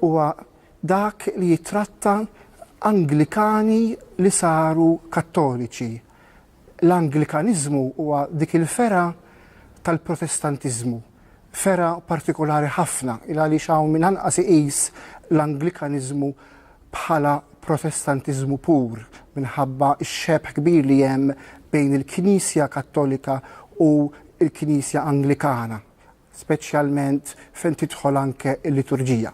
huwa dak li jittratta Anglikani li saru Kattoliċi. L-Anglikaniżmu huwa dik il-fergħa tal-Protestantiżmu, fergħa partikolari ħafna, il għaliex hawn min anqas iqis l-Anglikaniżmu bħala Protestantiżmu pur, minħabba x-xebh kbir li hemm bejn il-Knisja Kattolika u l-Knisja Anglikana. speċjalment fejn tidħol anke l-liturġija.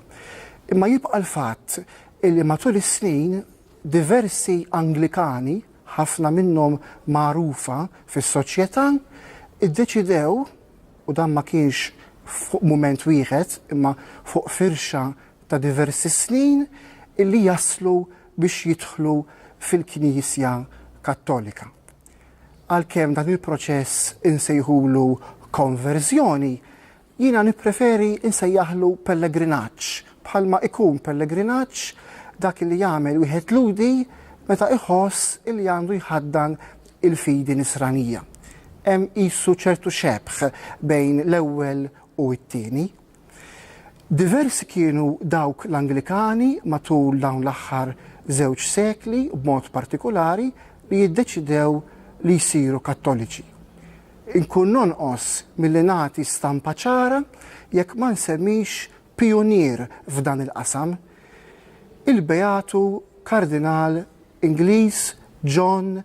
Imma jibqa' l-fatt li matul is-snin diversi Anglikani, ħafna minnhom magħrufa fis-soċjetà, iddeċidew, u dan ma kienx fuq mument wieħed imma fuq firxa ta' diversi snin, li jaslu biex jidħlu fil-Knisja Kattolika. Għalkemm dan il-proċess insejħulu konverżjoni, jiena nippreferi nsejjaħlu pellegrinaġġ, bħalma ikun pellegrinaġġ dak li jagħmel wieħed Lhudi meta iħoss li għandu jħaddan il-fidi Nisranija. Hemm qisu ċertu xebh bejn l-ewwel u t-tieni. Diversi kienu dawk l-Anglikani matul dawn l-aħħar żewġ sekli b'mod partikulari li jiddeċidew li jsiru Kattoliċi. Inkun nonqos milli nagħti stampa ċara jekk ma nsemmix pijunier f'dan il-qasam, il-Beatu Kardinal Ingliż John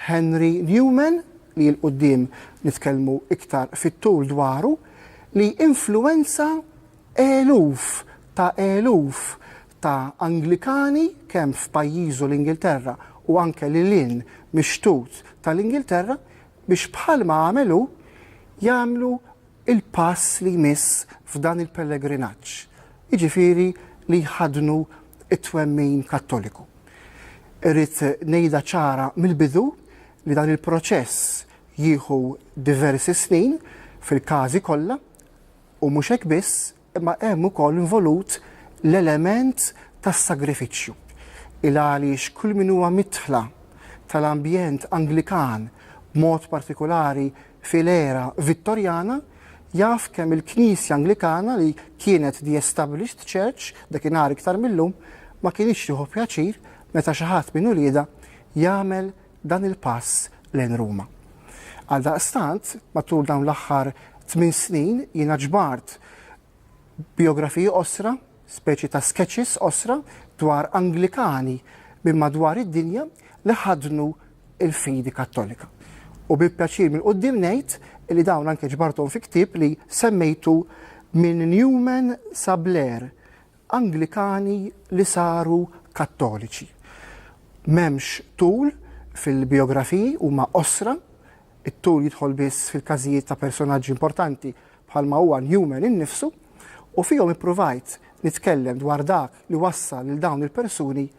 Henry Newman, li 'l quddiem nitkellmu iktar fit-tul dwaru, li influwenza eluf ta' eluf ta' Anglikani kemm f'pajjiżu l-Ingilterra u anke lil hinn mix-xtut tal-Ingilterra biex bħalma għamel hu jagħmlu il-pass li jmiss f'dan il-pellegrinaġġ, jiġifieri li jħaddnu t-twemmin Kattoliku. Irrid ngħidha ċara mill-bidu li dan il-proċess jieħu diversi snin fil-każi kollha u mhux hekk biss, Imma hemm ukoll involut l-element tas-sagrifiċċju, il-għaliex kull min huwa midħla tal-ambjent Anglikan, b'mod partikulari fil-era Vittorjana, jaf kemm il-Knisja Anglikana li kienet the established church dakinhar iktar mil-lum, ma kinitx tieħu pjaċir meta xi ħadd minn uliedha jagħmel dan il-pass lejn Ruma. Għaldaqstant, matul dawn l-aħħar tmien snin jiena ġbart bijografiji qosra, speċi ta' sketches qosra dwar Anglikani minn madwar id-dinja li ħadnu il-fidi Kattolika. U bi pjaċir minn qudiem ngħid li dawn anke ġbarthom fi ktieb li semmejtu minn Newman sa Blair Anglikani li saru Kattoliċi. M'hemmx tul fil-bijografiji, huma qosra, it-tul jidħol biss fil-każijiet ta' personaġġi importanti bħalma huwa Newman innifsu, u fihom ippruvajt nitkellem dwar dak li wassal lil dawn il-persuni